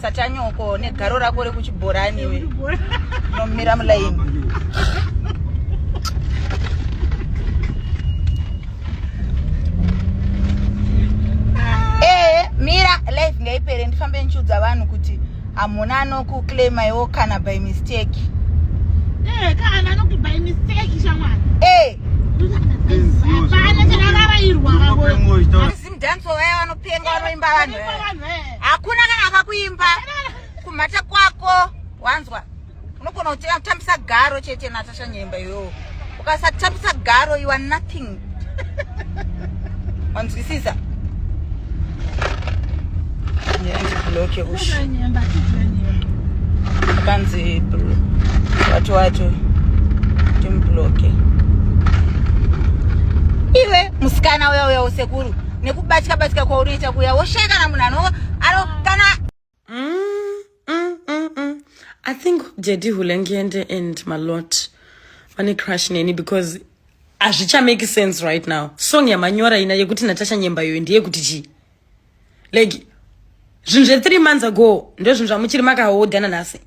satanyoko negaro rako rekuchibhorani iwe nomira mulaini eh, mira life ngaipere ndifambe ndichiudza vanhu kuti hamuna anokuclaima iwo kana by mistake eh, kana anoku by mistake shamwari eh. Team dance waya vanopenga vanoimba vanhu. Hakuna kana akakuimba kumhata kwako wanzwa. Unogona kutambisa garo chete Natasha Nyemba yo. Ukasatambisa garo you are nothing. Wanzwisisa? bloke ush panzi watu watu timbloke iwe musikana uya uya usekuru nekubatika batika kwaunoita kuya woshaya kana munhu ano ano kana mm, mm, mm, mm. i think jedi hulengende and malot vane crush neni because hazvichamake sense right now song yamanyora ina yekuti natasha nyembayoyo ndeyekuti chii like zvinhu zve three months ago ndozvinhu zvamuchiri makahodha nanhasi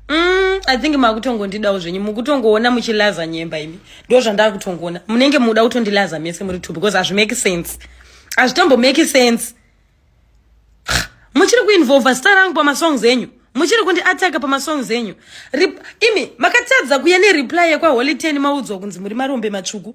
mm, i think makutongondidawo zvenyu mukutongoona muchilaza nyemba imi ndo zvandakutongoona munenge muda kutondilaza mese muri two because hazvimake sense hazvitombomake sense muchiri kuinvolva zita rangu pamasongs enyu muchiri kundi ataka pamasongs enyu imi makatadza kuya nereply yekwaholy ten maudzwa kunzi muri marombe matsvuku